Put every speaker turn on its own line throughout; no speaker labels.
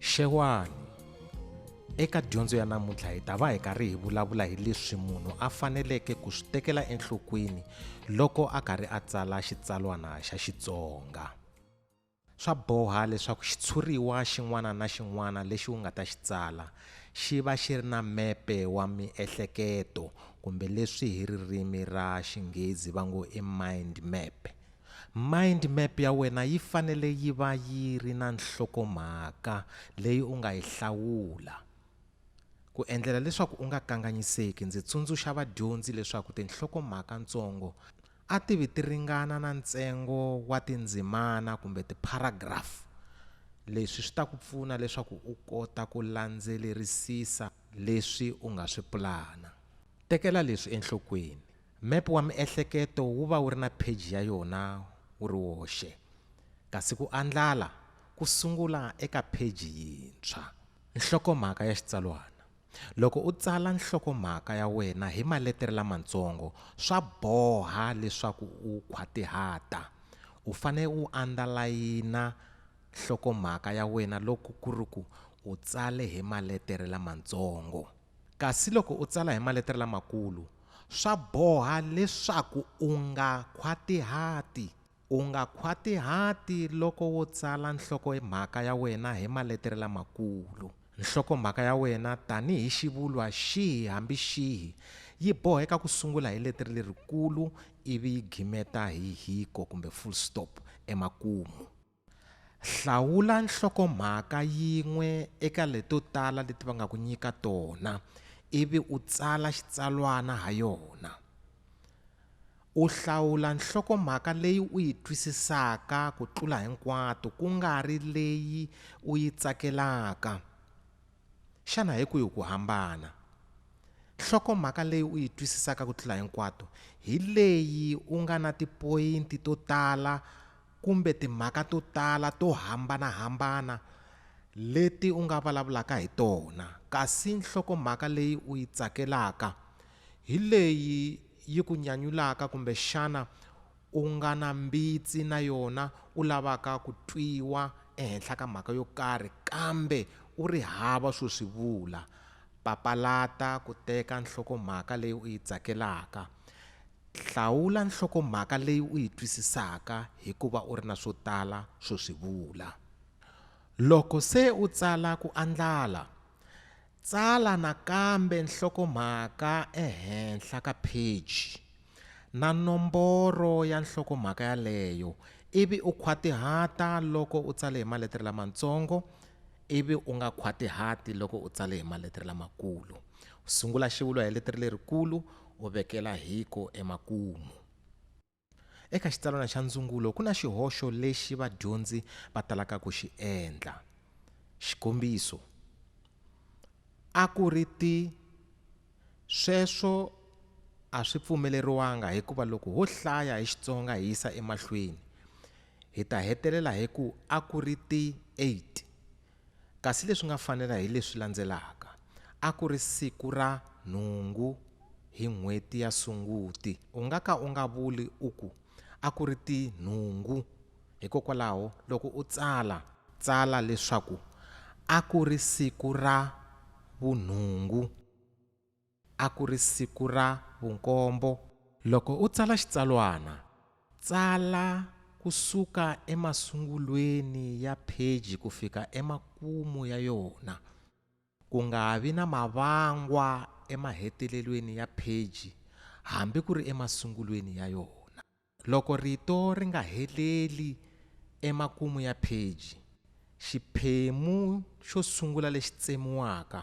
Xewani eka dyondzo ya namuntlha hi ta va hi karhi hi vulavula hi leswi munhu a faneleke ku swi tekela enhlokweni loko a karhi a tsala xitsalwana xa Xitsonga. Swa boha leswaku xitshuriwa xin'wana na xin'wana lexi u nga ta xi tsala xi va xi ri na mepe wa miehleketo kumbe leswi hi ririmi ra Xinghezi va ngo i mind map. Mind map ya wena yi fanele yi va yi ri na nhlokomhaka leyi u nga yi hlawula. Ku endlela leswaku u nga kanganyiseki ndzi tsundzuxa vadyondzi leswaku tinhlokomhaka-ntsongo, a ti vi ti ringana na ntsengo wa tindzimana kumbe tipharagrafu. Leswi swi ta ku pfuna leswaku u kota ku landzelerisisa leswi u nga swi pulana. Tekela leswi enhlokweni, Mepe wa miehleketo wu va wu ri na pheji ya yona wu ri woxe, kasi ku andlala ku sungula eka pheji yintshwa. Nhlokomhaka ya xitsalwana. Loko u tsala nhlokomhaka ya wena hi maletere lamatsongo, swa boha leswaku u khwatihata. U fanele u andalayina nhlokomhaka ya wena loko ku ri ku u tsale hi maletere lamatsongo. Kasi loko u tsala hi maletere lamakulu, swa boha leswaku u nga khwatihati. U nga khwatihati loko wo tsala nhloko-mhaka ya wena hi maletere lamakulu. Nhloko-mhaka ya wena, tanihi xivulwa xihi hambi xihi, yi boheka ku sungula hi letere lerikulu ivi yi gimeta hi hiko kumbe full stop emakumu. Hlawula nhloko-mhaka yin'we eka leto tala leti va nga ku nyika tona ivi u tsala xitsalwana ha yona. U hlawula nhlokomhaka leyi u yi twisisaka ku tlula hinkwato ku nga ri leyi u yi tsakelaka. Xana hi kwihi ku hambana? Nhlokomhaka leyi u yi twisisaka ku tlula hinkwato hi leyi u nga na tipoyinti to tala kumbe timhaka to tala to hambana-hambana leti u nga vulavulaka hi tona, kasi nhlokomhaka leyi u yi tsakelaka hi leyi yi ku nyanyulaka kumbe xana u nga na mbitsi na yona u lavaka ku twiwa ehenhla ka mhaka yo karhi kambe u ri hava swo swi vula? Papalata ku teka nhlokomhaka leyi u yi tsakelaka. Hlawula nhlokomhaka leyi u yi twisisaka hi ku va u ri na swo tala swo swi vula. Loko se u tsala ku andlala, Tsala nakambe nhlokomhaka ehenhla ka pheji na nomboro ya nhlokomhaka yaleyo ivi u khwatihata loko u tsale hi maletere lamatsongo ivi u nga khwatihati loko u tsale hi maletere lamakulu. Sungula xivulwa hi letere lerikulu u vekela hiko emakumu. Eka xitsalwana xa ndzungulo ku na xihoxo lexi vadyondzi va talaka ku xi endla. Xikombiso, a ku ri ti sweswo a swi pfumeleriwanga hikuva loko ho hlaya hi Xitsonga hi yisa emahlweni hi ta hetelela hi ku a ku ri ti 8 Kasi leswi nga fanela hi leswi landzelaka, A ku ri siku ra nhungu hi n'hweti ya Sunguti. U nga ka u nga vuli u ku, A ku ri ti nhungu. Hikokwalaho, loko u tsala, tsala leswaku A ku ri siku ra vunhungu. A ku ri siku ra vunkombo. Loko u tsala xitsalwana, tsala ku suka emasungulweni ya pheji ku fika emakumu ya yona, ku nga vi na mavangwa emahetelelweni ya pheji hambi ku ri emasungulweni ya yona. Loko rito ri nga heleli emakumu ya pheji, xiphemu xo sungula lexi tsemiwaka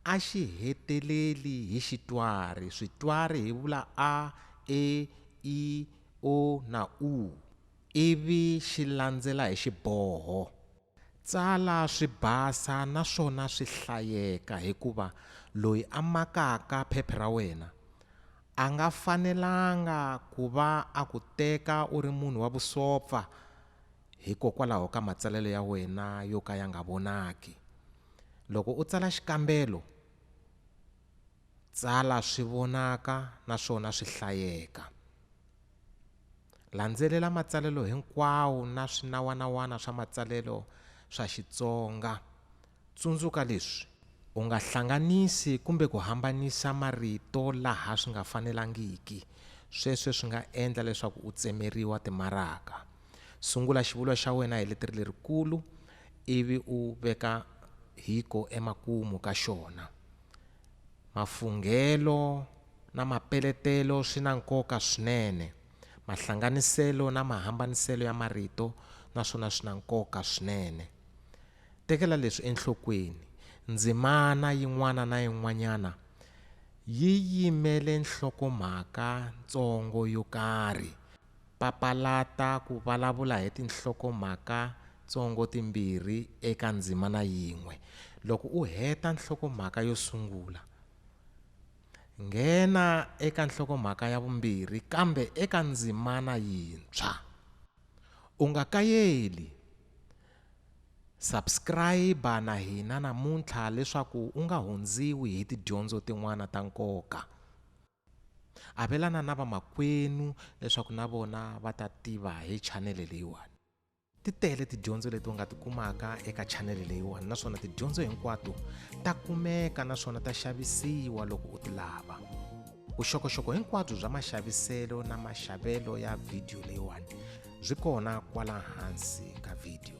a xi heteleli hi xitwari, switwari hi vula a, e, i, o na u, ivi xi landzela hi xiboho. Tsala swi basa naswona swi hlayeka hikuva loyi a makaka phepha ra wena a nga fanelanga ku va a ku teka u ri munhu wa vusopfa hikokwalaho ka matsalelo ya wena yo ka ya nga vonaki. Loko u tsala xikambelo, tsala swi vonaka naswona swi hlayeka. Landzelela matsalelo hinkwawo na swinawanawana swa matsalelo swa Xitsonga. Tsundzuka leswi. U nga hlanganisi kumbe ku hambanisa marito laha swi nga fanelangiki. Sweswo swi nga endla leswaku u tsemeriwa timaraka. Sungula xivulwa xa wena hi leteri lerikulu ivi u veka hiko emakumu ka xona. Mafunghelo na mapeletelo swi na nkoka swinene. Mahlanganiselo na mahambaniselo ya marito na swona swi na nkoka swinene. Tekela leswi enhlokweni, Ndzimana yin'wana na yin'wanyana yi yimele nhlokomhaka ntsongo yo karhi. Papalata ku vulavula hi tinhlokomhakatsongo timbirhi eka ndzimana yin'we. Loko u heta nhlokomhaka yo sungula, nghena eka nhlokomhaka ya vumbirhi kambe eka ndzimana yintshwa. U nga kayeli, subscribe na hina namuntlha leswaku u nga hundziwi hi tidyondzo tin'wana ta nkoka. Avelana na vamakwenu leswaku na vona va ta tiva hi chanele leyiwani ti tele tidyondzo leti u nga ti kumaka eka chanele leyiwani naswona tidyondzo hinkwato ta kumeka naswona ta xavisiwa loko u ti lava vuxokoxoko hinkwabyo bya maxaviselo na maxavelo ya vhidiyo leyiwani byi kona kwala hansi ka vhidiyo